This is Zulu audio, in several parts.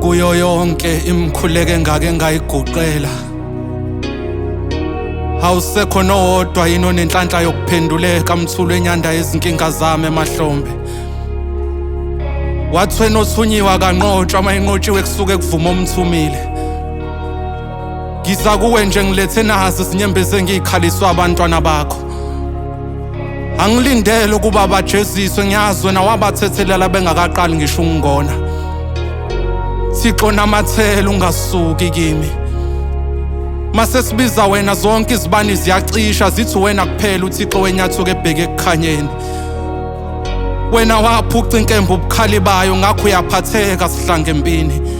kuyo yonke imkhuleko engake ngayiguqela awusekho nowodwa yini onenhlanhla yokuphenduleka mthulu enyanda yezinkinga zami emahlombe wathweni othunyiwa kanqotshwa uma enqotshiwe kusuke kuvuma omthumile ngiza kuwe nje ngilethe nazi izinyembezi engiyikhaliswa abantwana bakho angilindele ukuba bajeziswe ngiyazi wena wabathethelela bengakaqali ngisho ukungona thixo namathela ungasuki kimi mase sibiza wena zonke izibani ziyacisha zithi wena kuphela uthixo wenyathuka ebheke ekukhanyeni wena waphuca inkemba ubukhali bayo ngakho uyaphatheka sihlange empini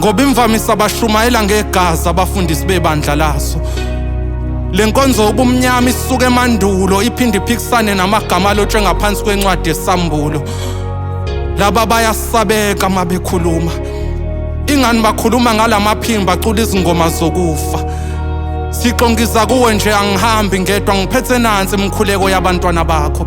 ngoba imvamisa bashumayela ngegazi abafundisi bebandla laso le nkonzo yobumnyama isuke emandulo iphinde iphikisane namagama alotshwe ngaphansi kwencwadi yesambulo laba bayasabeka uma bekhuluma ingani bakhuluma ngalamaphimbo bacula izingoma zokufa sixongiza kuwe nje angihambi ngedwa ngiphethe nansi imkhuleko yabantwana bakho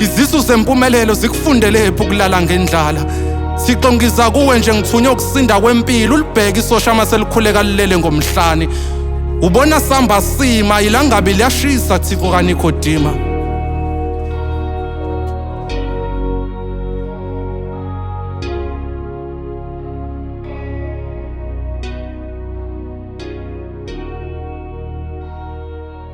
Izisu zempumelelo zikufundelephi ukulala ngendlala? Thixo ngiza kuwe nje ngithunywe ukusinda kwempilo ulibheke isosha uma selikhuleka lilele ngomhlane. Ubona samba sima ilangabi liyashisa Thixo kaNikodima.